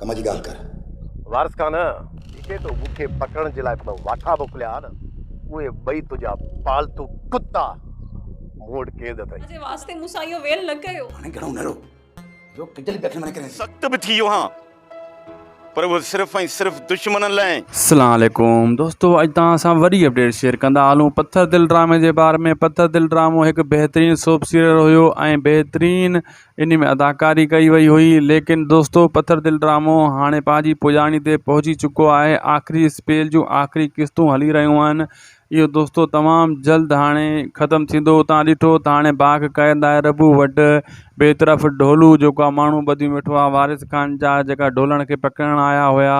ڪم جي ڳالهه ڪر. وارث خان، ڏسي تو مون کي پڪڙڻ جي لاء ٻه واٺا موڪليا آهن، اهي ٻئي تنهنجا پالتو ڪتا مون وٽ قيد اٿئي. جي واسطي مون سان اهو ويل نه ڪيو. هاڻي گهڻو نه رو، جو ڪجل به اکين مان نڪرين ٿي. سخت به ٿي ويو هان، پر اهو صرف ۽ صرف دشمنن لاء. السلام عليڪم دوستو اڄ توهان سان وري اپڊيٽ شيئر ڪندا هلون پٿر دل ڊرامي جي باري ۾ پٿر دل ڊرامو هڪ بهترين سوپ سيريل هيو ۽ بهترين انهي ۾ اداڪاري ڪئي وئي هئي ليڪن دوستو پٿر دل ڊرامو هاڻي پنهنجي پڄاڻي تي پهچي چڪو آهي آخري اسپيل جون آخري قسطون هلي رهيون آهن اهو دوستو تمام جلد هاڻي ختم ٿيندو تان ڏٺو ته هاڻي باک قائد آهي ربو وٽ ٻئي طرف ڍولو جيڪو آهي ماڻهو ٻڌيون ويٺو آهي وارث خان جا جيڪا ڍولڻ کي پڪڙڻ آيا هيا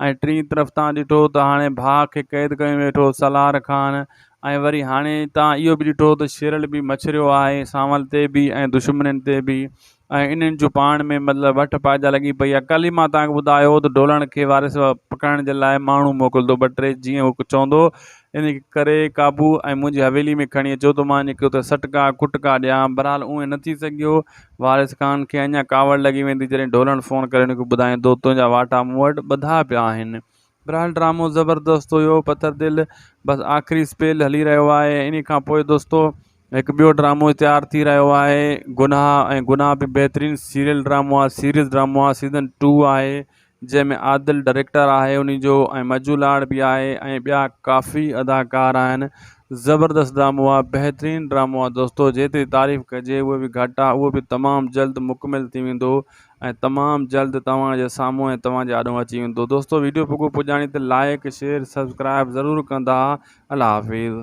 ۽ ٽئين طرف تان ڏٺو ته هاڻي باک کي قيد ڪيو ويٺو سالار خان ۽ وري هاڻي توهان اهو به ڏٺو ته شيرل به مڇريو آهي سانول تي به ۽ دشمنين تي به ۽ انهن جون پاڻ ۾ مطلب وٺ پائجا لڳي پئي آهي ڪل ئي مان توهان کي ٻڌايو هو ته ڍولڻ کي وارث پڪڙڻ جي لاء ماڻهو موڪلندو ٻه ٽي جيئن هو چوندو انهن کي ڪري قابو ۽ منهنجي حويلي ۾ کڻي اچو ته مان انهن کي اتي سٽڪا ڪٽڪا ڏيان بهرحال اهو نه ٿي سگهيو وارث خان کي اڃا ڪاوڙ لڳي ويندي جڏهن ڍولڻ فون ڪري ان کي ٻڌائيندو تنهنجا واٽا مون وٽ ٻڌا پيا آهن برحال ڊرامو زبردست هيو پٿر دل بس آخري اسپيل هلي رهيو آهي ان کان پوء دوستو هڪ ٻيو ڊرامو تيار ٿي رهيو آهي گناهه ۽ گناهه به بهترين سيريل ڊرامو آهي سيريز ڊرامو آهي سيزن ٽو آهي جنهن ۾ عادل ڊائريڪٽر آهي ان جو ۽ مجو لاڙ به آهي ۽ ٻيا ڪافي اداڪار آهن زبردست ڊرامو آهي بهترين ڊرامو آهي دوستو جيتري تعريف ڪجي اهو به گهٽ آهي اهو به تمام جلد مڪمل ٿي ويندو ۽ تمام جلد توهان جي سامهون ۽ توهان جي آڏو اچي ويندو دوستو ويڊيو پڳو پڄاڻي ته لائيڪ شيئر سبسڪرائيب ضرور ڪندا الله حافظ.